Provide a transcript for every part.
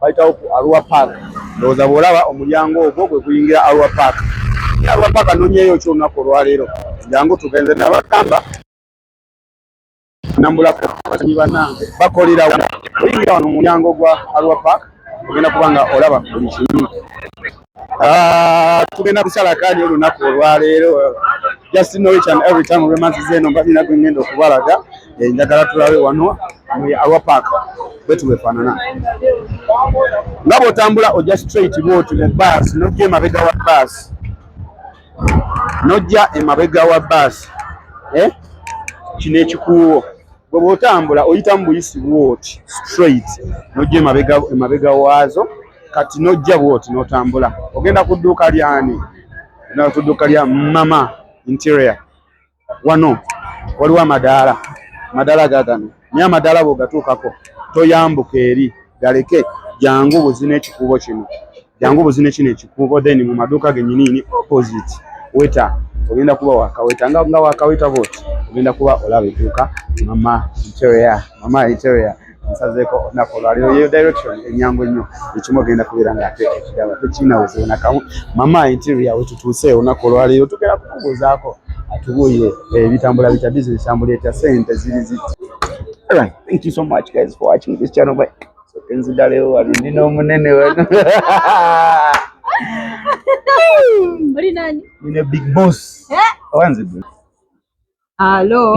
bayitawo ku arua park ndowooza bw'olaba omulyango ogwo gwe guyingira arua park naye arua park anonyeyo ki olunaku olwaleero jangu tugenze nabagamba nambulako batanyi banange bakolerawo oyingira wano omulyango gwa arua park ogenda kuba nga olaba buli kimu Ah, tugenda kusala kaadi olunaku olwaleero just know each and every time olwemanziza eno mba nina gwengenda okubalaga eh, njagala tulabe wano mu awa park bwetuwefaanana nga bwotambula ojja straight bwoti mu bus nojja emabega wa bus nojja emabega wa bus eh? kino ekikuuwo gwe bwotambula oyita mu buyisi bwoti straight nojja emabega waazo kati nojja bwoti notambula ogenda ku dduuka lyani na ku dduuka lya mama interior wano waliwo amadaala amadaala gagano naye amadaala bwogatuukako toyambuka eri galeke jangu buzina ekikuubo kino jangu buzina kino ekikuubo then mu maduuka genyiniini opposite weta ogenda kuba wakaweta nga wakaweta bwoti ogenda kuba olaba edduuka mama interior mama interior nsazeeko olunaku olwaliro yeyo direction enyangu ennyo ekimu ogenda kubeera nga ate ekirala tekiinawuzibu nakamu mama interior wetutuuse olunaku olwaliro tugenda kukubuuzaako atubuuye ebitambula bitya bizinesi tambula etya sente ziri ziti Alright, thank you so much guys for watching this channel. Bye. So kenzida leo wabindi no munene wenu. Uri nani? Nine big boss. Eh? Wanzi bro. Hello.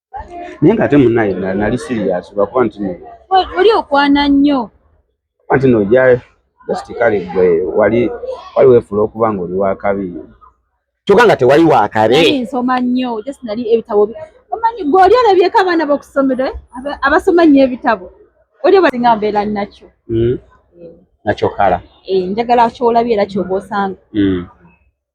naye nga ate munaye nali sirias lwakuba nti oli okwana nnyo kuba nti noja just kale gwe wali wali wefuula okuba nga oli wakabi kyoka nga tewali wakabi nsoma nnyo just nali ebitabo omanyi gwe oli olabyeko abaana bokusomero eh? abasoma nnyo ebitabo oli obasinga mbeera nakyo hmm? eh. nakyo kala eh, njagala kyolabye era kyoba osanga hmm.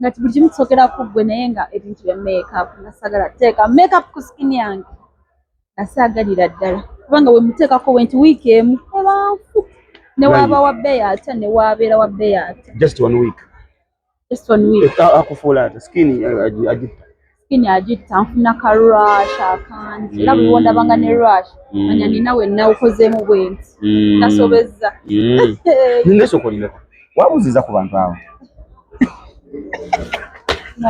nga buli kimu kisokera ku ggwe naye nga ebintu bya makeup nga sagala teeka makeup ku skin yange nga saagalira ddala kubanga wemuteekako wenti wiiki emu ebanfu newaaba wa bbeeyi atya newaabeera wa bbeeyi atya just one week just one week akufuula ate skin agitta skin agitta nfuna ka rush akangi era buli wondabanga ne rush mm. manya nina wenna okozemu bwenti mm. nasobezza mm. nesokolireko wabuziza ku bantu abo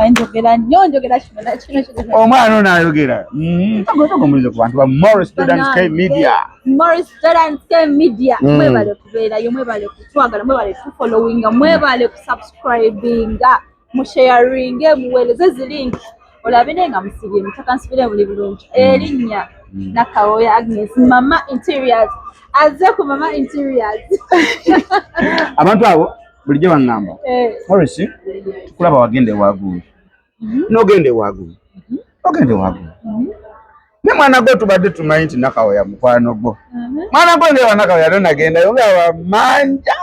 njogera nnyo njogera omwana ono ayogera omulize ku bantu ba morris students k media morris students k media mwebale kubeerayo mwebale kutwagala mwebale tufollowinga mwebale kusubscribinga musheyaringe muweereze zi linki olabe naye nga musibye mutaka nsibire muli bulungi mm. erinnya mm. nakawoya agnes mama interiors aze ku mama interiors abantu abo bulijjo baŋŋamba eh. morris tukulaba wagenda ewaguulu mm-hmm. nogenda ewaguulu mm-hmm. ogenda ewaguulu mm-hmm. ne mwana gwo tubadde tumanyi nti nakawoya mukwano gwo mwana gwo ngewa nakawoya no nagendayo nga wamanja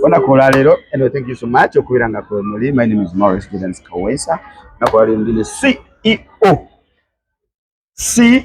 onakola leero anyway thank you so much okubeera nga kwe muli my name is maurice gidens kawesa nakola leero ndi ne ceo ceo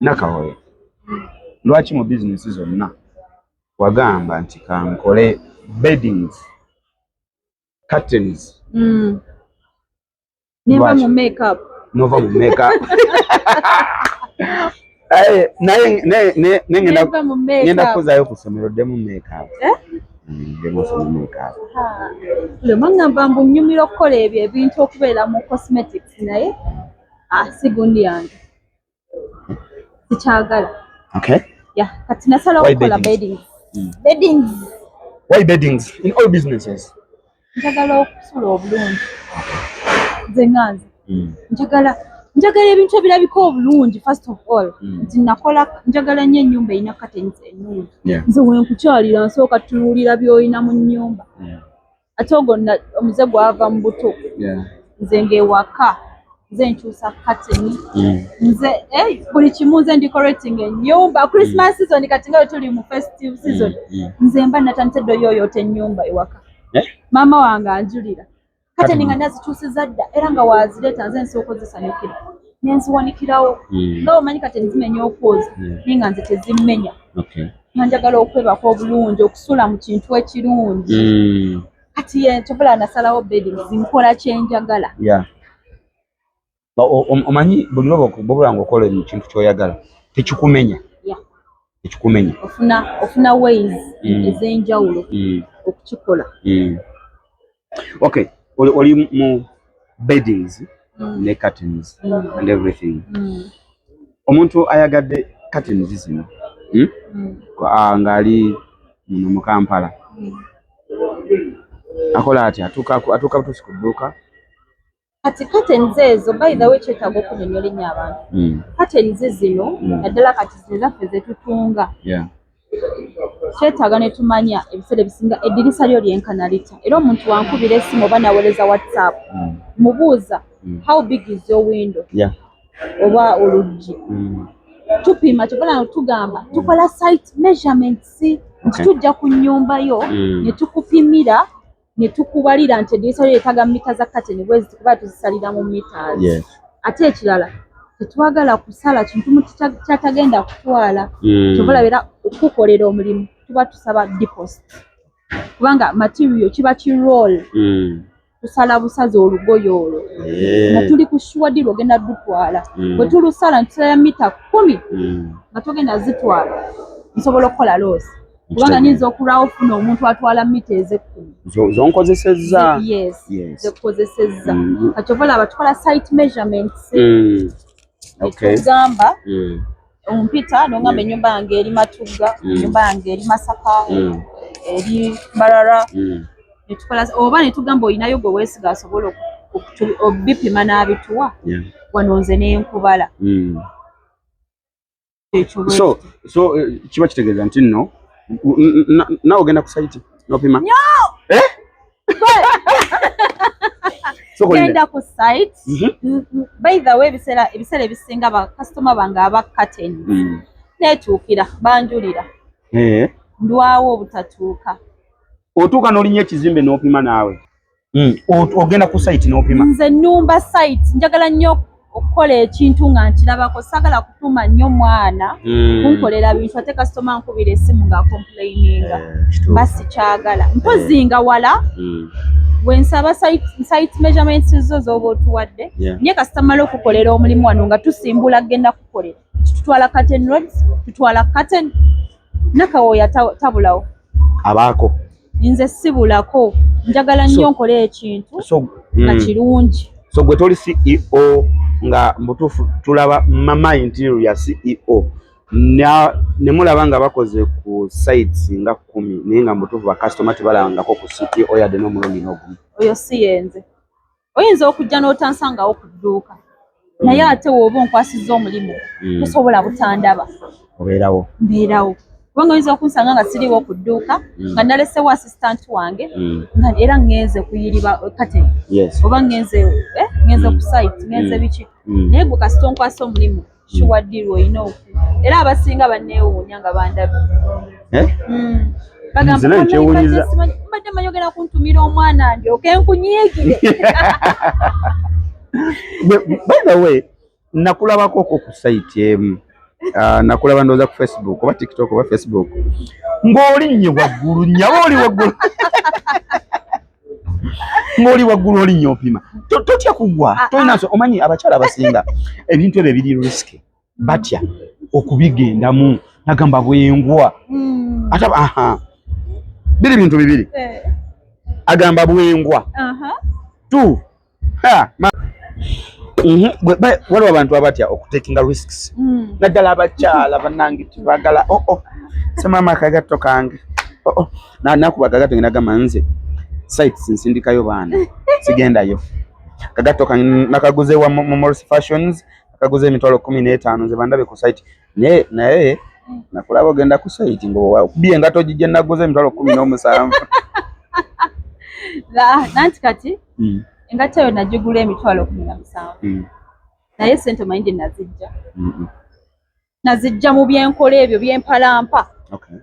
Nakawoyo, lwaki mu bizinesi zonna wagamba nti kankole beddings curtains mm. nova mu makeup nova mu makeup eh, naye ngenda kuzayo ku ssomero ddemu makeup eh? lwemwangamba mbu nyumira okukola ebyo ebintu okubeera mu cosmetics naye asigundi ah, yange sikyagala okay yeah kati nasala okukola beddings mm. beddings why beddings in all businesses njagala okusula obulungi nze nganze mm. njagala njagala ebintu ebirabika obulungi first of all mm. nti nakola njagala nnyo ennyumba erina katensi ennungi nze wenkukyalira nsooka tunuulira byolina mu nnyumba ate ogwo omuze gwava mu buto nze ngaewaka nze nkyusa kateni mm. nze eh, buli kimu nze ndikorating enyumba christmas mm. season kati nga wetuli mu festive mm, season nze mba natandise ddo yoyoota enyumba ewaka eh? maama wange anjulira kateni nga nazikyusiza dda era nga wazireeta nze nsooka ozisanyukira nenziwanikirawo nga omanyi kateni zimenya okwoza naye nga nze tezimenya njagala okwebaka obulungi okusula mu kintu ekirungi hmm. kati yenkyobula nasalawo bedings nkola kyenjagala omanyi buli lwobobula nga okola mu kintu kyoyagala tekikumenya tekikumenya ofuna ways hmm. ezenjawulo hmm. okukikola okay oli, oli mu beddings mm. ne curtains mm. and everything mm. omuntu ayagadde curtains zino hmm? mm. Ah, ngaali muno mu kampala mm. akola ati atuuka butuusi ku dduuka kati kateniza ezo by the way kyetaaga okunyonyola ennyo abantu mm. katenizi zino mm. naddala kati zino zaffe zetutunga kyetaaga ne tumanya ebiseera ebisinga eddirisa lyo lyenkana litya era omuntu wankubira esimu oba naweereza whatsapp mm. mubuuza how big is your window oba oluggi tupima kyobola tugamba tukola site measurements nti tujja ku nnyumba yo ne tukupimira ne tukubalira nti eddirisa lyo yetaaga mita za kateni bwezi kuba tuzisalira mu mita ate ekirala tetwagala kusala kintu muti kyatagenda kutwala hmm. kyobola beera okukukolera omulimu tuba tusaba deposit kubanga material kiba ki roll hmm. tusala busazi olugoyo olwo nga tuli ku shuwadi lwogenda dutwala hmm. bwe tulusala ntusala mita kumi nga togenda zitwala nsobola okukola loosi kubanga nyinza okulwawo ofuna omuntu atwala mita ezekkumi zonkozesezza zekukozesezza mm, mm. kati oba laba tukola site measurements mm. etugamba ompita nongamba enyumba yange eri matugga enyumba yange eri masaka eri mbarara netukola oba netugamba olinayo gwe wesiga asobola obipima n'abituwa wano nze nenkubala so so eh, kiba kitegeeza nti nno nawe ogenda ku saiti nopima eh? genda ku site mhm. by the way ebiseera ebisinga bakasitoma bange abakateni mm. netuukira banjulira eh. ndwawo obutatuuka otuuka n'olinya ekizimbe n'opima naawe Mm. ogenda ku site nopima nze numba site njagala nnyo okukola ekintu nga nkirabako sagala kutuma nnyo mwana mm. kunkolera bintu ate kasitoma nkubira esimu nga complaininga eh, mba sikyagala mpozi eh. nga wala mm. wensaba site measurements zo zoba otuwadde nye kasitamala okukolera omulimu wano nga tusimbula genda kukolera tutwala curtain roads tutwala curtain nakawooya tabulawo abaako nze sibulako njagala nnyo nkole ekintu nga hmm. kirungi so gwe toli ceo nga mubutuufu tulaba mama interior ya ceo ne mulaba nga bakoze ku sites nga kkumi naye nga mubutuufu bakasitoma tebalabangako ku ceo yadde n'omulundi n'ogumu oyo si yenze oyinza okujja n'otansangawo ku dduuka naye mm. ate wooba onkwasizza omulimu mm. tosobola butandaba obeerawo mbeerawo kubanga oyinza okunsanga nga siriwo ku dduuka mm. nga nalesewo assistant wange nga era ngenze kuyiriba kate oba ngenze eh, ngenze ku site ngenze biki naye gwe kasita onkwasa omulimu shuwa hmm. ddiru olina oku era abasinga banneewuunya nga bandabye eh? hmm. mbadde manyi ogenda kuntumira omwana ndyoke nkunyiigire by the way nakulabako ko ku sayiti emu ah, nakulaba ndooza ku facebook oba tiktok oba facebook ng'olinnye waggulu nyaba oli waggulu ng'oli waggulu olinya opima totya kugwa ah, ah. tolinaso omanyi abakyala abasinga ebintu ebyo ebiri risiki batya okubigendamu nagamba bwengwa hmm. ata aha biri bintu bibiri eh. agamba bwengwa tu Mhm. waliwo abantu abatya okutekinga risks hmm. naddala abakyala banange tibagala oo oh, oh. semaama akagatto kange oo oh, nakuba akagatto nge nagamba nze sites nsindikayo baana sigendayo akagatto kange nakaguze wa momors fashions akaguze emitwalo kumi n'etaano nze bandabe ku site naye naye nakulaba ogenda ku site ngokubye engato gigye naguza emitwalo kumi n'omusanvu nanti kati hmm. engato eyo nagigula emitwalo kumi na musanvu hmm. naye sente omanyi gye nazijja hmm, nazijja mu byenkola ebyo byempalampa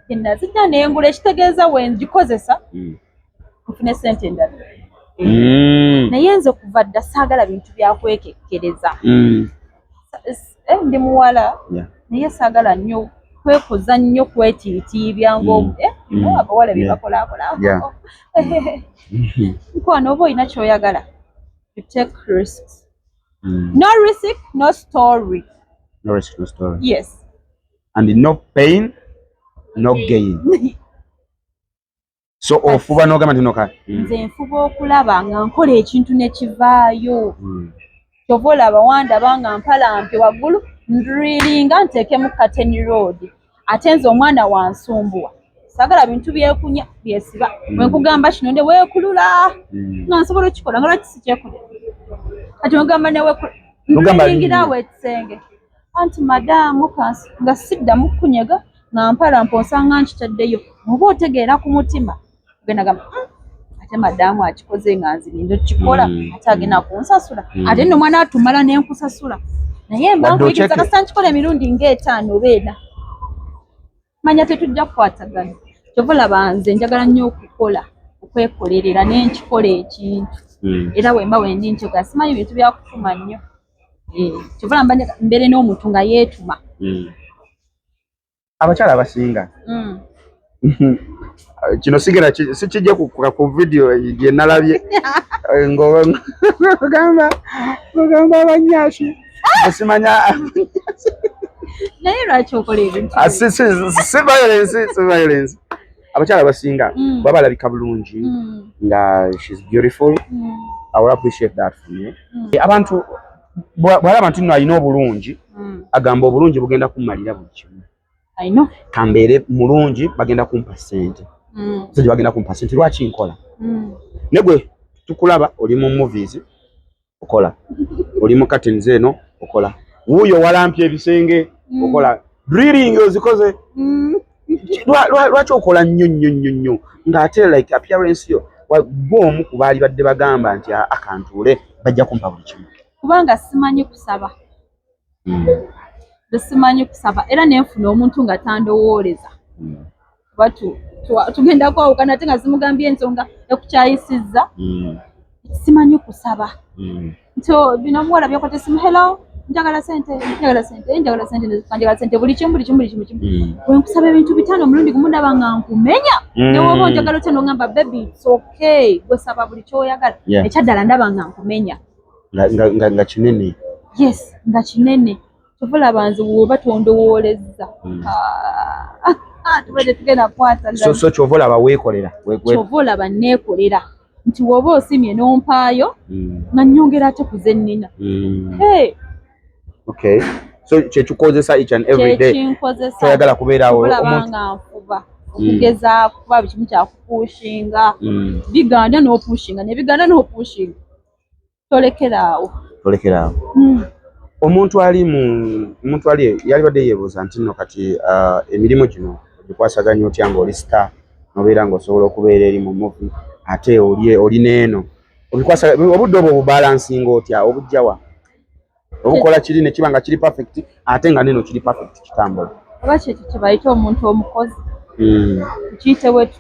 gye nazijja nengula ekitegeeza wengikozesa nfune sente endala mm. naye nze kuva dda saagala bintu byakwekekkereza mm. eh, ndi muwala naye saagala nnyo kwekuza nnyo kwetiitiibya ngaomu mm. eh, abawala byebakolaakola nkwana oba olina kyoyagala you take risks Mm. No risk, no story. No risk, no story. Yes. And no pain, no gain. so ofuba nogamba ntino kale hmm. nze nfuba okulaba nga nkola ekintu nekivaayo hmm. kyova olaba wandaba nga mpalampi waggulu ndrilinga nteekemu kateni road ate nze omwana wansumbuwa sagala bintu byekunya byesiba hmm. wenkugamba kino nde wekulula nga nsobola okikola nga lwaki sikyekulera kati ogamba newekulula ndrilingira awo ekisenge anti madaamu kansi nga siddamu kunyega nga mpala mponsanga nkitaddeyo muba otegeera ku mutima genagamba hmm, ate madaamu akikoze nga nzirindo kikola hmm. ate agenda kunsasula hmm. ate no mwana atumala nenkusasula naye mba nkuyigiriza kasita nkikola emirundi ngaetaano oba ena manya tetujja kukwatagana kyova olaba nze njagala nnyo okukola okwekolerera naye nkikola ekintu hmm. era wemba wendi nkyogera simanyi bintu byakutuma nnyo eh, kyova olaba mbeere n'omuntu nga yeetuma hmm. abakyala abasinga hmm. kino sigera sikijja kukuka ku vidiyo gye nalabye eh, ngogamba abanyaasi simanya naye lwaki okola ebintu ah, si violence si violence abakyala abasinga mm. baba balabika bulungi mm. nga she's beautiful mm. i will appreciate that for me eh, abantu bwalaba nti no alina obulungi agamba obulungi bugenda kumalira buli kimu kambeere mulungi bagenda kumpa sente sente bagenda kumpa sente lwaki nkola negwe tukulaba oli mu movies okola oli mu curtains eno okola wuuyo walampye ebisenge mm. okola drilling ozikoze mm. lwaki okola nnyo nnyo nnyo nnyo ng'ate like appearance yo gwe omu ku baali badde bagamba nti akantuule bajja kumpa buli kimu kubanga simanyi kusaba hmm. simanyi kusaba era nenfuna omuntu nga tandowooleza hmm. kuba tugenda kwawukana ate nga zimugambye ensonga ekukyayisizza hmm. simanyi kusaba nti oh, bino omuwala byakwata esimu hello njagala sente njagala sente njagala sente njagala sente buli kimu buli kimu buli kimu kimu wenkusaba ebintu bitaano omulundi gumu ndaba nga nkumenya newoba onjagala otya nongamba bebi its okay gwesaba buli kyoyagala ekyaddala ndaba nga nkumenya nga kinene yes nga kinene tovolaba nze woba tondowoolezza hmm. ah, ah, tubadde tugenda kwataso kyova olaba weekolera kyova olaba neekolera nti woba osimye n'ompaayo hmm. nga nyongera ate ku zennina hmm. okay so kyekikozesa each and every day toyagala kubeerawo nga nfuba okugeza kuba bikimu kyakupuushinga biganda n'opuushinga nebiganda n'opuushinga tolekera awo tolekera awo hmm. omuntu ali mu omuntu ali yalibadde yeebuuza nti nno kati uh, emirimu gino ogikwasaganya otya ng'oli star nobeera ng'osobola okubeera eri mu muvi ate oli oli n'eno obikwasa obudde obwo obubalansinga otya obujjawa obukola kiri ne kiba nga kiri perfect ate nga neno kiri perfect kitambula oba kyekyo kyebayita omuntu omukozi hmm. kiyite wetu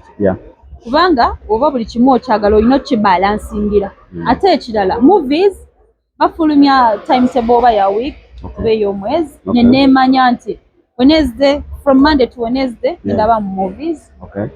kubanga oba buli kimu okyagala olina okibalansingira hmm. ate ekirala movies bafulumya timetable oba ya week oba ey'omwezi neneemanya nti Wednesday from Monday to Wednesday yeah. ndaba mu movies okay.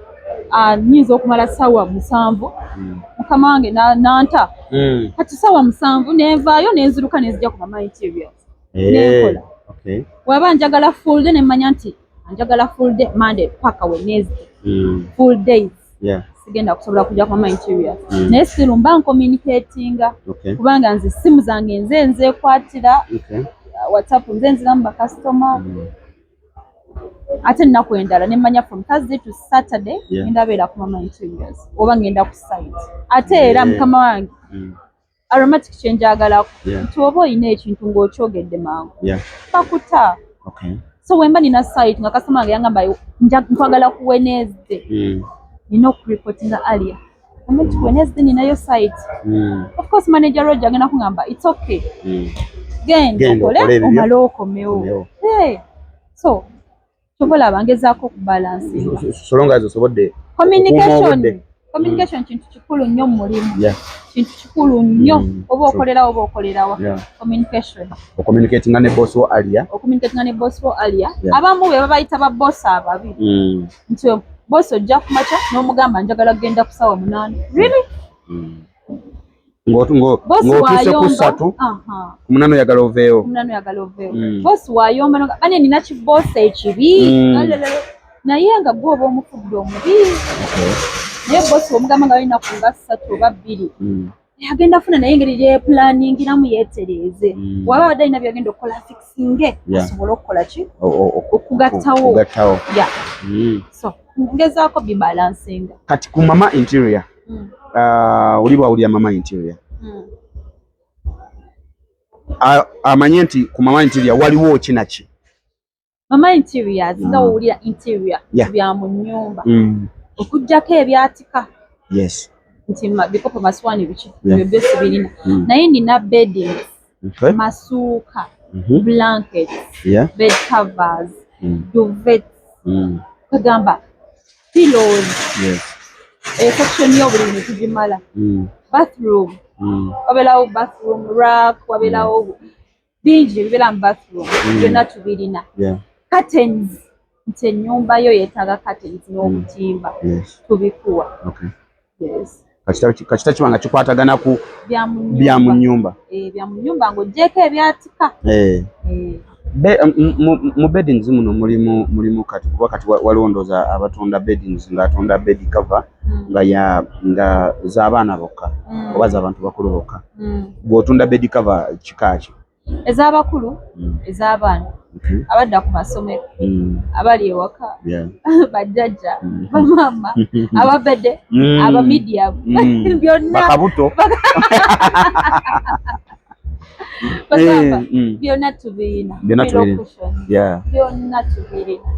Ah, nyinza okumala sawa musanvu mm. mukama wange nanta mm. kati sawa musanvu nenvaayo nenziruka nenzija ku mama interiors hey. Eh, nenkola okay. waba njagala full day nemmanya nti njagala full day Monday paka Wednesday mm. full days yeah. sigenda kusobola kujja kwa nigeria mm. naye still mba ncommunicatinga okay. kubanga nze simu zange nze nzekwatira okay. Uh, whatsapp nze nziramu bakasitoma mm. ate ennaku endala nemanya from thursday to saturday yeah. ngendabeera ku mama interiors oba ngenda ku site ate era yeah. mukama wange mm. aromatic kye njagala nti oba olina ekintu ng'okyogedde mangu bakuta so wemba nina site nga kasitoma wange yangamba nkwagala ku wenezde hmm. nina okuripotinga alia omuntu wenezde ninayo site hmm. of course manager roge agenda kungamba its okay hmm. genda okole omale okomewo so kyobola bangezaako okubalansinga solonga ezo sobodde communication communication kintu kikulu nnyo mu mulimu kintu kikulu nnyo mm, oba okolerawo oba okolerawa communication okomunikatinga ne boss wo alia okomunikatinga ne boss wo alia abamu be babayita ba boss ababi mm. nti boss ojja kumakya n'omugamba njagala kugenda ku sawa munaana really mm. ng'otuuse ku ssatu ku munana oyagala oveewo mm. bosi wayomba bane nina kibosi ekibi mm. naye nga gwe oba omufudde omubi naye bosi omugamba nga balina ku nga ssatu oba bbiri mm. agenda funa naye engeri gyeplaningiramu yetereeze mm. waba abadde alina byagenda okukola fixinge asobole okukola ki okugattawo mm. ngezaako bibalansinga kati ku mama interior mm. uh, oli bwawulira mama interior mm. uh, amanye nti ku mama interior waliwo kinaki mama interior zinga mm. wowulira interior yeah. bya mu nyumba mm. okujjako ebyatika yes nti bikopo masiwani biki yeah. ebyo byosibirina mm. naye nina beddings okay. masuuka mm -hmm. blankets yeah. bed covers mm. duvets mm. kagamba pillows yes. esection eh, yobuli bintu tugimala mm. bathroom mm. wabelawo bathroom rack wabelawo mm. bingi ebibeera mu bathroom mm. byonna mm. tubirina yeah. curtains nti ennyumba yo yeetaaga curtains n'obutimba mm. tubikuwa kakita kiba nga kikwatagana ku bya mu nnyumba eh, bya mu nnyumba ng'oggyeeko ebyatika eh. Eh. mu beddings muno mulimu mulimu kati kuba kati waliwo ndooza abatunda beddings ng'atunda bed cover mm. nga ya nga z'abaana bokka mm. oba z'abantu bakulu bokka gw'otunda bed cover kikaaki ez'abakulu mm. ez'abaana mm-hmm. abadda ku masomero mm. abali ewaka bajjajja mm. bamaama ababede abamidiyamu byonnakabuto bagamba eh, byonna tubirina byonna tubirina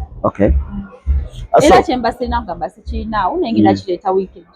era kyembasirina nga mbasikirinaawo naye ngenda kireeta wiikendi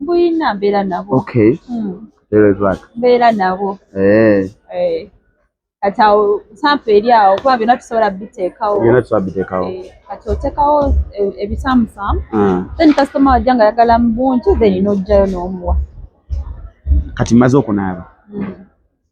Buyina mbeera nabo. Okay. Mm. Very bad. Mbeera nabo. Eh. Eh. Kati awo sampa eri awo kuba byonna tusobola biteekawo. Byonna tusobola biteekawo. Eh, kati oteekawo eh, ebisamusamu. Mm. Then customer wajja nga ayagala mu bungi then n'ojjayo n'omuwa. Kati maze okunaaba. Mm.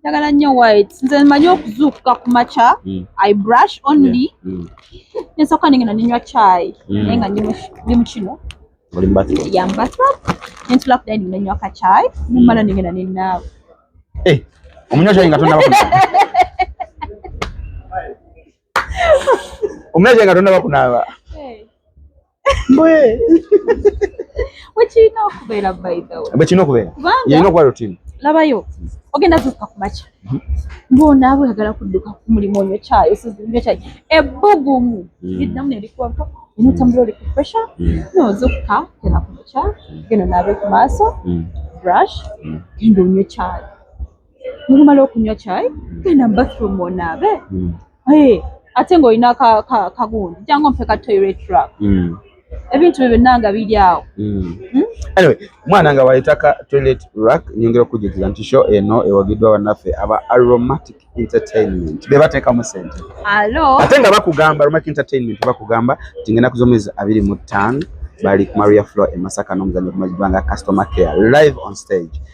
njagala nnyo white nze manyi okuzuukuka ku makya mm. i brush only mm. nensooka nengenda nenywa chai mm. naye nga ndi mu kino yambatrop nentula ku dining nenywa ka chai mumala nengenda nenaawe eh, omunywa chai nga tonaba omulaje nga tonaba kunaaba bwekirina okubeera bwekirina okubeera yalina okuba rutini labayo ogenda zuuka ku makya mhm. ng'onaaba oyagala kudduka ku mulimu onyo kyayo sizinyo kyayo ebbugumu mm. liddamu nerikuwako enotambula oli ku pressure mm. nozuuka genda ku makya mm. genda naabe ku maaso brush genda onyo kyayo mumala okunywa kyayi genda mu bathroom onaabe hmm. ate ng'olina kagundi jangu mpe ka toilet rap hmm. ebintu byo byonna nga biri awo hmm. anyway mwana nga wayitaka toilet rack nyongera okujjukiza nti show eno ewagiddwa bannaffe aba aromatic entertainment be bateekamu sente ate nga bakugamba aromatic entertainment bakugamba nti ngenda ku zomwezi abiri mu ttaano bali ku maria floor e masaka n'omuzanyo kumazidwa nga customer care live on stage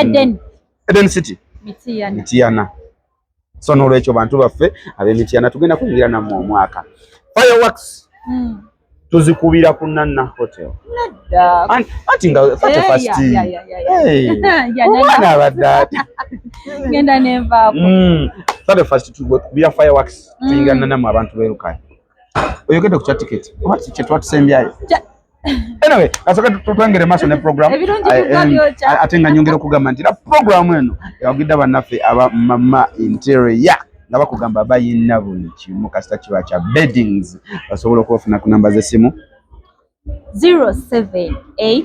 Eden mm. Eden City Mitiyana Mitiyana so n'olwekyo bantu baffe ab'Emitiyana tugenda kuyingira nammwe omwaka fireworks mm. tuzikubira ku Nanna Hotel anti nga fate eh, first omwana abadde ati genda nenvaako mm. fate first tukubira fireworks mm. tuyingira Nanna mu abantu beerukayo oyogedde ku kya tiketi oba kye twatusembyayo anyway kasooka tutwengere maaso ne program ate nga nyongera okugamba nti na programu eno ewagidde bannaffe aba mama interior nga bakugamba bayina buli kimu kasita kiba kya beddings basobola okubafuna ku namba z'essimu 078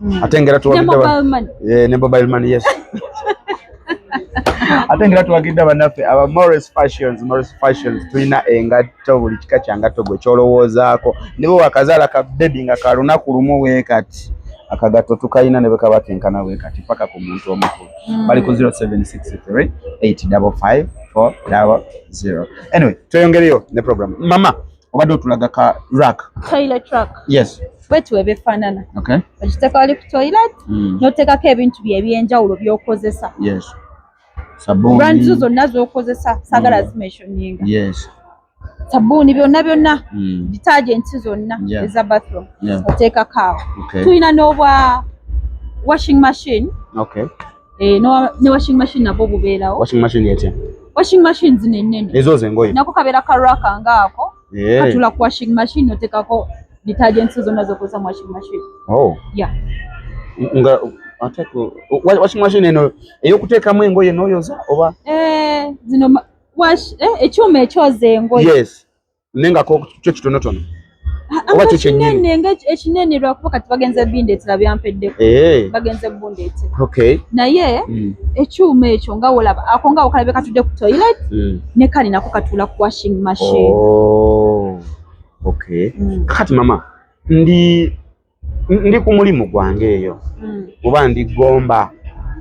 hmm. ate ngera tuwagidde eh, ne mobile money yes ate ngera tuwagidde bannaffe aba Morris Fashions Morris Fashions tulina engatto buli kika kya ngatto gwe kyolowoozaako ne bwe wakazaala ka bebi nga ka lunaku lumu weekati akagatto tukalina ne bwe kaba kenkana weekati paka ku muntu omukulu hmm. bali ku 0763 855 400 anyway tweyongereyo ne program mama obadde otulaga ka rak toilet rak yes bwetu ebifaanana okiteeka wali ku toilet hmm. n'oteekako ebintu bye ebyenjawulo by'okozesa brand zo zonna z'okozesa saagala hmm. zimesoninga sabbuuni byonna byonna hmm. detergenti zonna eza bathroom oteekako awo tulina n'obwa washing machine Eh, ne washing machine nabwo bubeerawo. Washing machine etya? Washing machine zino ennene. Ezo zengoye. Nako kabeera ka raka ngaako. Eh. Katula ku washing machine oteekako detergents zonna zokozesa mu washing machine. Oh. Yeah. Nga ate ku washing machine eno ey'okuteekamu engoye n'oyoza oba? Eh, zino wash eh, ekyuma ekyoza engoye. Yes. nengako kyo kitonotono ah, ah, oba kyo kyenyini ekinene lwakuba kati bagenze bindeetera byampeddeko eh. bagenze bundeetera okay naye hmm. ekyuma ekyo nga wolaba ako nga okalabe katudde ku toilet hmm. ne kali nako katuula ku washing machine oh. okay hmm. kati mama ndi ndi ku mulimu gwange eyo mm. oba ndi gomba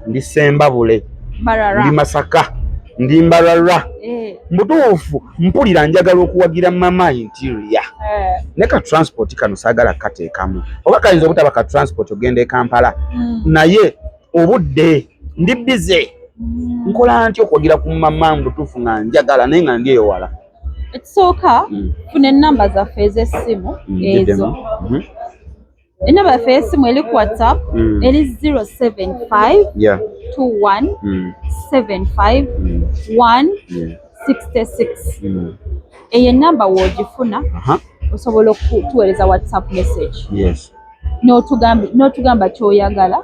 ndi sembabule ndi masaka ndi mbarara eh. mutuufu mpulira njagala okuwagira mama interior eh. ne ka transport kano saagala kateekamu oba kayinza obutaba ka transport ogenda e kampala mm. naye obudde ndi bize mm. nkola nti okuwagira ku mama mubutuufu nga njagala naye nga ndi ewala ekisooka mm. funa enamba zaffe ez'essimu mm, ezo mhm. enamba yaffe ey'essimu eri ku whatsapp mm. eri 0752175166 eyo enamba woogifuna osobola okutuweereza whatsapp message n'otugamba kyoyagala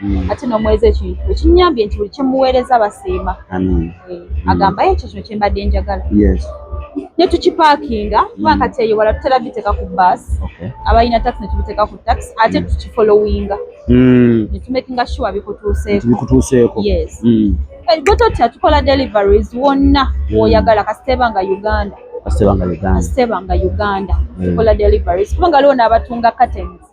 mm. ate n'omuweereza ekintu ekinyambye nti buli kyemuweereza basiima eh, mm. agambayo ekyo kino kyembadde njagala ne tukipaakinga kubanga mm. kati eyo wala tutera biteeka ku baasi abalina taxi ne tubiteeka ku taxi ate tukifolowinga ne tumakinga sure bikutuuseeko yes gwe totya tukola deliveries wonna woyagala kasiteeba nga uganda kasiteeba nga uganda kasiteeba nga uganda tukola deliveries kubanga waliwo n'abatunga curtains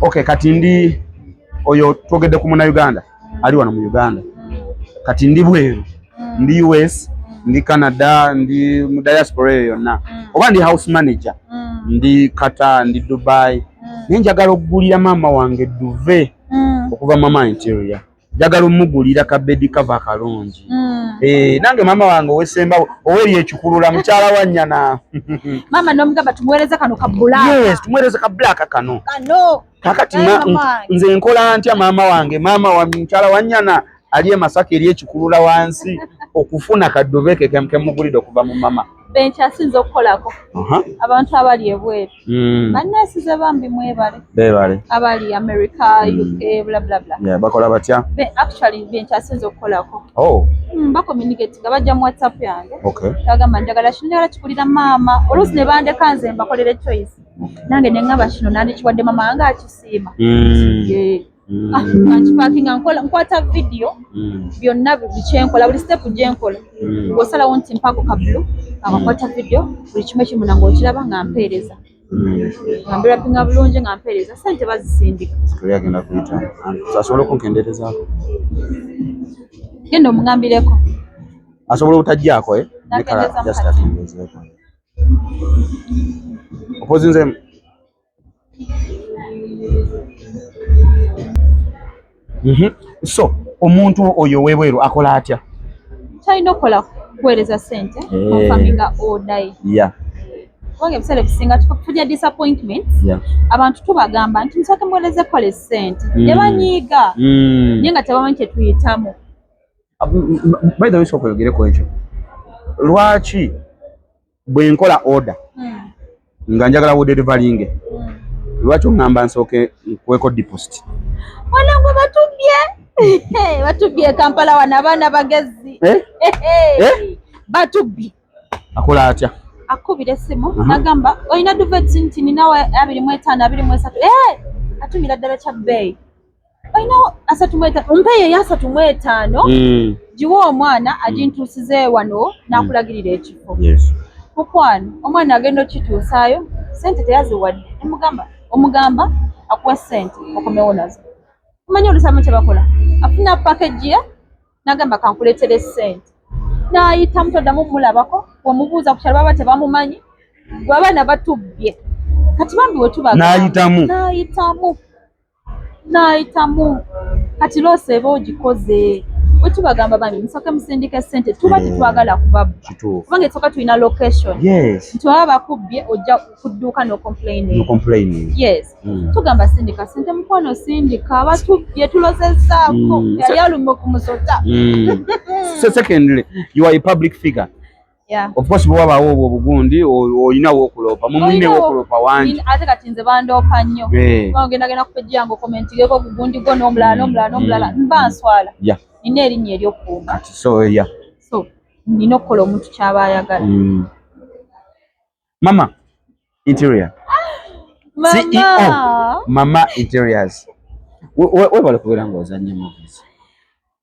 Okay, kati ndi oyo twogedde ku muna Uganda ali wano mu Uganda kati ndi bweru ndi US ndi Canada ndi mu diaspora eyo yonna mm. oba ndi house manager mm. ndi Qatar ndi Dubai mm. nenjagala okugulira maama wange duve okuva mama interior njagala omugulira ka bedi kava kalungi mm. eh, nange maama wange owesemba oweri ekikulula mukyala wa nyana maama nomugamba tumuwereze kano ka black yes tumuwereze ka black kano kano kakati nze nkola ntya maama wange maama wa mukyala wa nyana ali emasaka eri ekikulula wansi okufuna kadove kekemukemugulide okuva mu mama benkyasinza okukolako abantu abali ebweru Mm. Bannansi ze bambi mwebale. Bebale. Abali America, mm. UK, bla bla bla. Yeah, bakola batya? Be actually be nkyasinze okukolako. Oh. Mm, ba communicate nga bajja mu WhatsApp yange. Okay. Kagamba njagala kino njagala kikulira maama. Oluusi ne bandeka nze mbakolere choice. Nange ne ngaba kino nandikiwadde mama nga akisiima. Mm. Yeah. mm. ah, nkipakinga nkola nkwata vidiyo mm. byonna buli kyenkola buli sitepu gyenkola mm. osalawo nti mpako kabulu akakwata vidiyo buli kimu ekimuna ngaokiraba nga mpeereza nga mbirapinga bulungi nga mpeereza sente bazisindika agenda kuyita asobola okunkenderezaako genda omugambireko asobola obutajjaako eh? nekala just akendezeeko opozinzemu Mhm. so omuntu oyo owebweru akola atya talina okukola kuweereza sente eh. ofaminga odayi kubanga ebiseera ebisinga tulya disappointment abantu tubagamba nti musooke muweereze kukola esente hmm. ne banyiiga hmm. naye nga tebamanyi kyetuyitamu ah, by the way sooka oyogereko ekyo lwaki bwe nkola oda hmm. nga njagala wuderivalinge hmm. lwaki oŋŋamba nsooke nkweko deposit wanangu batubye batubye kampala wano abaana bagezi eh? Eh? batubbi akola atya akubira esimu nagamba olina duveti nti ninawe abiri mu etaano abiri mu esatu eh! atumira ddala kya bbeeyi olinawo asatu mu etaano ompa eyo eyasatu mu etaano hmm. giwa omwana hmm. agintuusize wano n'akulagirira hmm. ekifo mukwano omwana agenda okituusaayo sente teyaziwadde emugamba omugamba akuwa sente okomewo nazo omanyi olusamu kye bakola afuna pakagi ye n'agamba kankuleetere sente n'ayitamu toddamu mulabako wemubuuza ku kyalo baba tebamumanyi gwe abaana batubbye kati bambi wetuba n'ayitamu n'ayitamu n'ayitamu kati loosi eba ogikoze bwe tubagamba bambi musooke musindika essente tuba tetwagala mm, kubabba kubanga esooka tulina location nti baba bakubbye ojja kudduuka nocomplayning yes mm. tugamba sindika sente mukwano sindika abatubbye tulozezaako mm. yali alumba okumusota secondly you are a public figure Yeah. Of course bwa bawo obwo bugundi oyina wo kulopa mumune wo kulopa wanje ate kati nze bandopa nnyo eh. kwa ngenda gena kupejja ngo comment geko bugundi go no mlala no mlala no mlala mm. mba nswala yeah nina erinnya ery'okuuma kati so ya so nina okukola omuntu kyaba ayagala mm. mama interior ceo mama interiors webale kubeera nga ozannye movies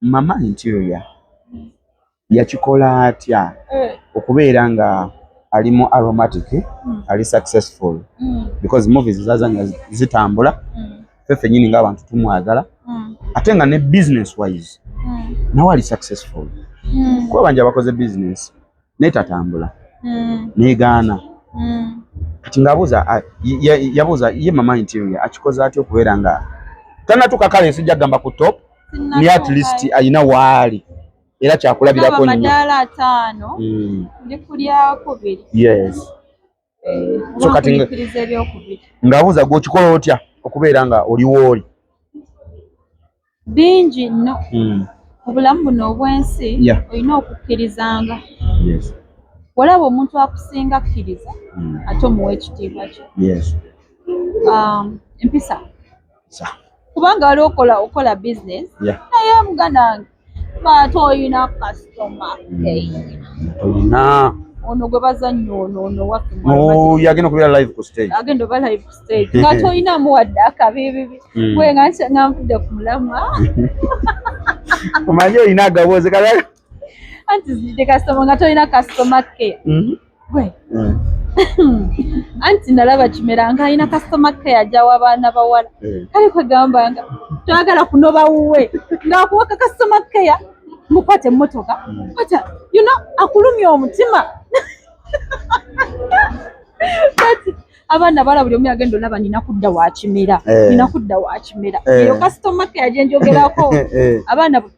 Mama interior yakikola atya eh. okubeera nga ali mu aromatic hmm. ali successful hmm. because movies zazanya zitambula hmm. fe fenyini nga abantu tumwagala ate nga ne business wise nawe ali successful kuba banja bakoze business naye tatambula mm. negaana mm. kati ngaabuuza yabuuza ye mama interior akikoze atya okubeera nga tanatuka kale sijja kugamba ku top ni at least ayina waali era kyakulabirako nnyo yes so kati ng'abuuza gwe okikola otya okubeera nga oliwo oli bingi nno hmm. obulamu buno obw'ensi olina okukkirizanga walaba omuntu akusinga akkiriza hmm. ate omuwa ekitiibwa kye um, empisa kubanga waliwo okola okola business naye muganange baate olina kasitoma olina ono gwe bazannya ono ono yagenda okubeera live ku stage agenda oba live ku stage nga tolinamu wadde akabibibi hmm. gwe nga nga nvudde ku mulamwa omanyi olina agaboozi kala anti zidde kasitoma nga tolina kasitoma ke mm-hmm. gwe mm. anti nalaba kimera nga alina kasitoma ke yajawo abaana bawala mm. kale kwegamba nga twagala kunoba wuwe ngaakuwaka kasitoma keya mukwata emmotoka mm. kwata yuno akulumya omutima abaana bala buli omu yagenda olaba nina kudda wakimera eh. nina kudda wakimera eh. eyo kasitoma ke yajenjogerako eh. abaana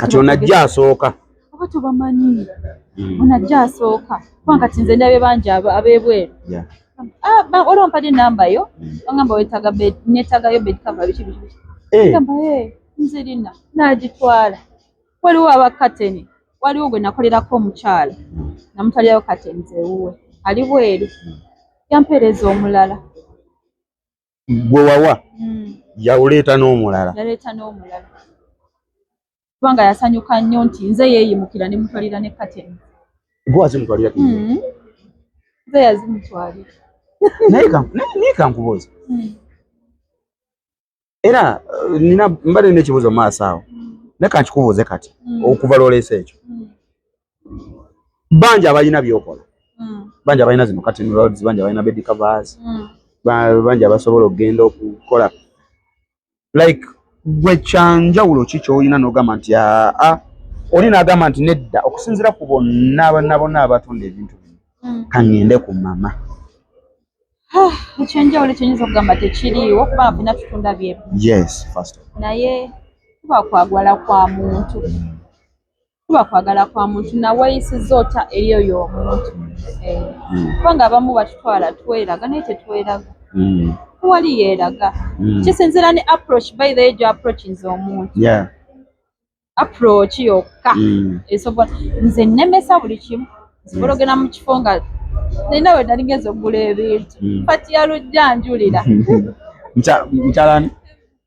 kati onajja asooka oba tubamanyi hmm. onajja asooka kubanga kati nze ndabye bangi abebweru ah, oli ompadde enamba yo hmm. ogamba wetaga netagayo bedkava biki biki eh. gamba e eh, nze rina nagitwala waliwo abakateni waliwo gwe nakolerako omukyala hmm. namutalirayo kateni zewuwe ali bweru yampeereza omulala gwe wawa hmm. yawuleeta n'omulala yaleeta n'omulala kubanga yasanyuka nnyo nti nze yeeyimukira ne mutwalira ne kateni gwe azimutwalira hmm. nze yazimutwalira naye kankubuuza hmm. era eh, nina mbadde nekibuuzo maaso awo naye kankikubuuze kati okuva lwoleesa ekyo bangi abalina byokola hmm. bangi abalina zino katin roads bangi abalina bed covers hmm. bangi abasobola okugenda okukola like gwe kyanjawulo ki kyolina nogamba nti aa ah, ah, oli nagamba nti nedda okusinzira ku bonna abanna bonna abatunda ebintu bino hmm. kaŋŋende ku mama ah, ekyenjawulo kyenyinza okugamba tekiriiwo kuba bina tutunda byemu naye kuba kwagwala kwa muntu kuba kwagala kwa muntu naweyisiza otya eri oyo omuntu eh, hmm. kubanga abamu batutwala tweraga naye tetweraga hmm. wali yeraga hmm. kisinzira ne approach by the age approachinze omuntu approach yokka esobola nze nemesa buli kimu nsobola ogenda mu kifo nga nina we nali ngeza okugula ebintu pati ya lujja njulira mukyalani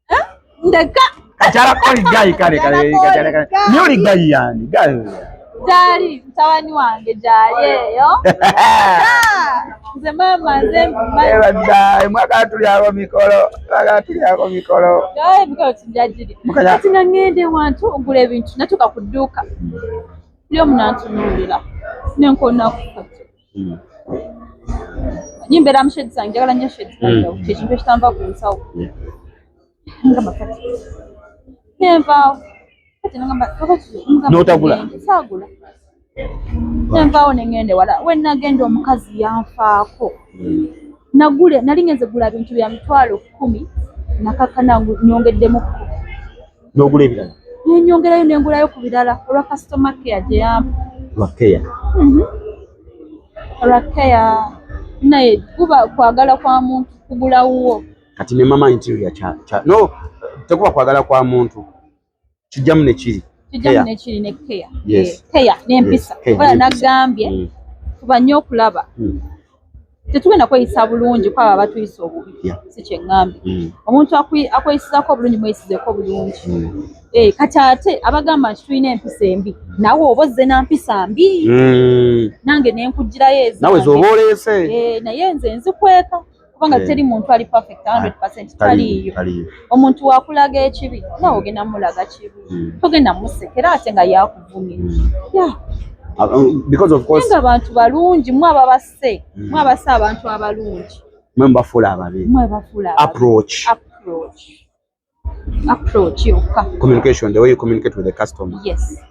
eh? ndeka kachala koli gai kale kale kachala kale nyoli gai yani gai jali mtawani wange jali eyo nze mama nze mama ebadda mwaka tuli abo mikolo mwaka tuli abo mikolo gai mikolo tujajiri kati ngende wantu ogula ebintu natuka kuduka lyo mnantunulira nenkona kufata Hmm. Nyi mbeera mu shade zange njagala nnyo shade zange hmm. kyekintu ekitanva ku nsawo nga makati nenvaawo kati nagamba kakati notagula saagula nenvaawo nengende wala wenagenda omukazi yanfaako hmm. nagule nali ngenze gula bintu bya mitwalo kumi nakakana nyongeddemu n'ogula ebirala nenyongerayo nengulayo ku birala olwa customer care gye yampa lwa care mhm. lwa care naye kuba kwagala kwa muntu kugula wuwo kati ne mama interior kya kya no tekuba kwagala kwa muntu kijjamu ne kiri kijjamu ne kiri ne care yes care n'empisa ola nagambye mm. kuba nnyo okulaba mm. tetugenda kweyisa bulungi kwabo abatuyisa obubi si kyeŋŋambye mm. omuntu akweyisizaako obulungi mweyisizeeko obulungi mm. eh, kati ate abagamba nti tulina empisa embi nawe oba ozze na mpisa mbi mm. nange ne nkugirayo ezinawe zoba oleese eh, naye nze nzikweka kubanga eh. teri muntu ali perfect 100 ah, taliiyo omuntu wakulaga ekibi nawe ogenda mulaga kibi togenda musekera ate nga yaku yeah. Uh, um, because of course nga abantu balungi mwe ababasse mm. mwe abasse abantu abalungi mwe mbafuula ababi mwe bafuula approach approach approach yokka communication the way you communicate with the customer yes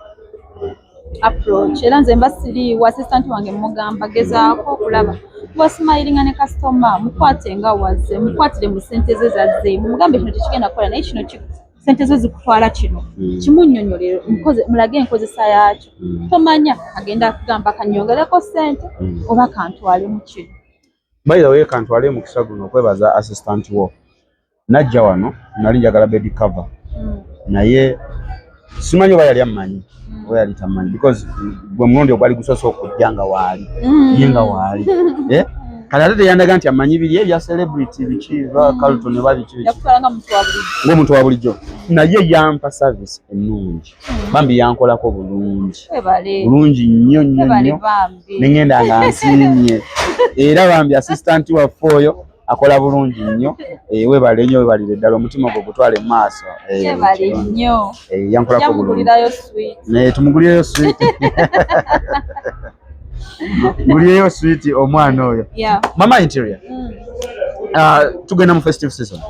approach era nze mba siriiwo assistant wange mugamba gezaako okulaba wasimayiringa ne customer mukwate nga wazze mukwatire mu sente ze zazzeemu mugambe kino tekigenda kukola naye kino sente zo zikutwala kino hmm. kimunyonyolero mulage enkozesa yaakyo hmm. tomanya agenda kugamba kanyongereko sente hmm. oba kantwale mu kino bayiraweye kantwale mukisa guno okwebaza assistant wo najja wano nali njagala bedi cover naye simanyi oba yali ammanyi oba yali tamanyi because gwe mulundi ogwali gusoose okujja nga waali mm. ye nga waali eh? kale ate teyandaga nti amanyi biri ebya celebrity biki bakalto ne babiki ngaomuntu wa bulijjo naye yampa service ennungi mm. bambi yankolako bulungi bulungi nnyo nnyo nnyo nengenda nga nsiimye era bambi assistant waffe oyo akola bulungi nnyo eh, webale nnyo webalire ddala omutima gwo gutwale mu maaso eh, eh, yankolako bulungi naye tumugulireyo switi mugulireyo switi omwana oyo mama interior mm. ah, tugenda mu festive season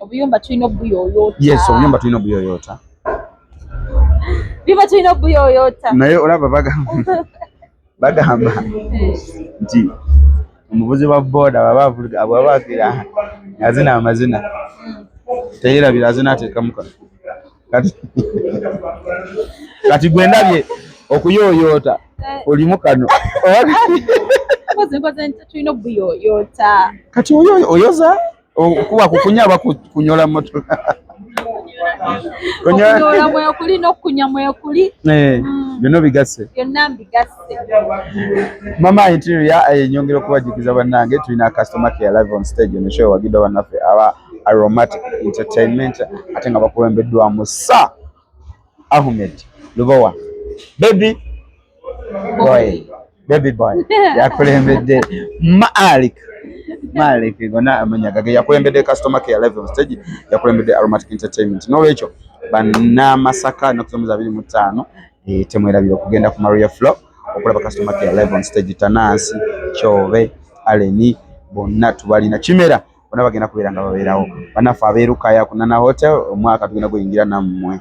obuyumba tulina obuyoyota yes obuyumba tulina obuyoyota biba tulina obuyoyota naye olaba bagamba bagamba nti omuvuzi wa booda baba abwabakira azina amazina teyerabira azina ateekamu kano kati gwe ndabye okuyooyoota olimu kano kati oyoza okuba kukunya aba kunyola moto kunyola mwekuli nokukunya mwekuli eh, mm. byonna bigasse byonna mbigasse mama interior enyongera okubajukiza bannange tulina customer care live on stage on the show wagidwa bannaffe aba aromatic entertainment ate nga bakulembeddwamu sa ahmed lubowa bebi boy baby boy yakulembedde malik malik gona amanya gage yakulembedde customer care live on stage yakulembedde aromatic entertainment n'olwekyo banamasaka ennaku zomuzi abiri mu ttaano eh, temwerabira okugenda ku maria flow okulaba customer care live on stage tanansi kyobe aleni bonna tubalina kimera bona bagenda kubeera nga babeerawo banafe abeerukaya kunana hotel omwaka tugenda guyingira nammwe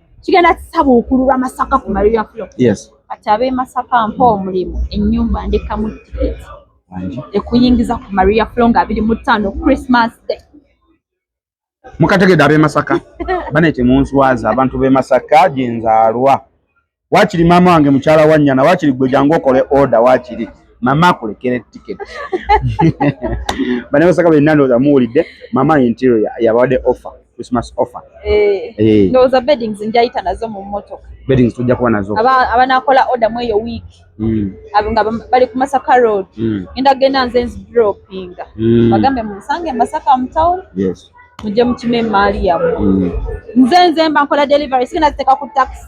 kigenda kisabuukululwa masaka ku maria flo yes. kati ab'e masaka mpa omulimu ennyumba ndekamu tiketi ekuyingiza ku maria flo nga abiri mu ttaano christmas day mukategedde ab'e masaka bane temunswaza abantu b'e masaka gye nzaalwa wakiri maama wange mukyala wa nnyana wakiri gwe jangu okole oda wakiri mama akulekera tiketi bane masaka benna ndowooza muwulidde mama interior yabadde offer Christmas offer. Eh. Eh. No, the beddings njayita nazo mu motoka. Beddings tujja kuba nazo. Aba abanakola order mweyo week. Mm. Abanga bali ku Masaka Road. Mm. Enda genda nze nzi dropping. Mm. Bagambe mu Sange Masaka mu town. Yes. Muje mu kime mali ya. Mm. Nze nze mba nkola delivery sina ziteka ku taxi.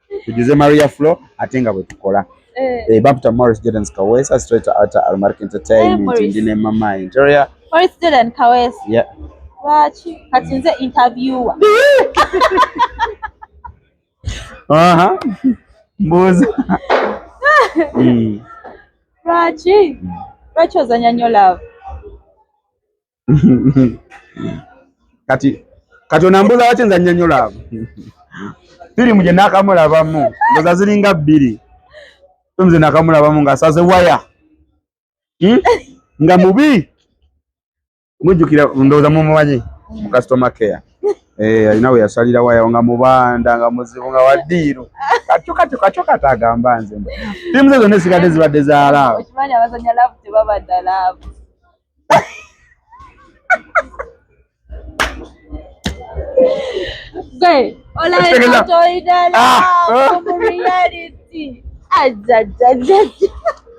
tujuze maria flo ate nga bwe tukola eh. eh, baputa morris jordan kawesa straight out almark entertainment eh, ndi ne mama interior morris jordan kawesa yeah lwaki kati nze interviewer aha mbuuza hmm. lwaki lwaki ozanya nyo love kati kati onambuuza waki nza nyonyola abo firimu gye nakamulabamu ndoza ziringa bbiri nze nakamulabamu ngaasaze waya hmm? nga mubi mujjukira ndowooza mumumanyi mu customer care eh, alina we yasalira waya nga mubanda nga muzibu nga wadiiru katyokatyokatyokati agamba nze firimu ze zonna esigadde zibadde zaalaawo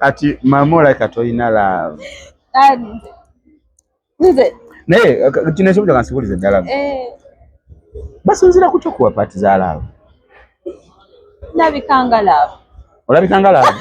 Ati mama olaika tolina love naye kino ekibuzo kansibulize ddala eh. basinzira kutya okuwa paati za laavu olabikanga laavu olabikanga laavu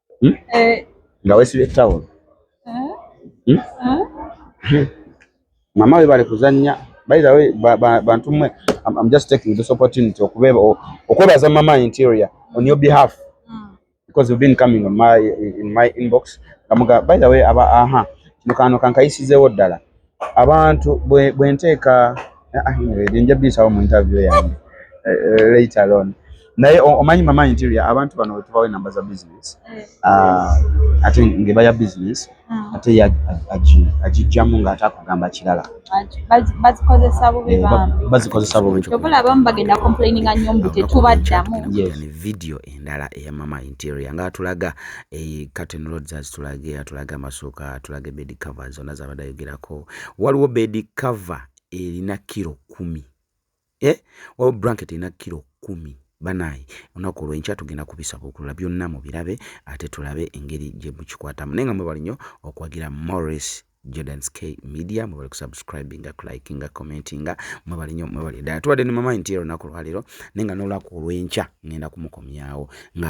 hmm? eh. nga wesibye tawulo eh? hmm? mama we bali kuzannya by the way bantu mwe I'm just taking this opportunity okubeba okwebaza mama interior on your behalf hmm. because you've been coming on my in my inbox kamuga by the way aba aha mukano kankayisizeewo ddala abantu bwe nteeka ah, ah, nja biyitawo mu interview yange eh, eh, later on naye omanyi mama interior abantu bano wetubawo enamba za business eh. ah, ate ngeba ya business hmm. ate agijjamu nga ate akugamba kirala bazikozesa bubi video endala eya mama interior nga atulaga eh, curtain rods azitulage atulaga amasuuka atulaga bed cover zonna zabadde ayogerako waliwo bed cover erina kiro kumi eh? waliwo blanket erina kiro kumi banaye olunaku olwenkya tugenda kubisabukulula byonna mu birabe ate tulabe engeri gye mukikwatamu naye nga mwebali nnyo okuwagira morris Jordan's K Media mwebale kusubscribinga kulikinga commentinga mwebale nnyo mwebale ddala tubadde ne mamayi nti ero naku lwaleero naye nga n'olunaku olw'enkya ngenda kumukomyawo nga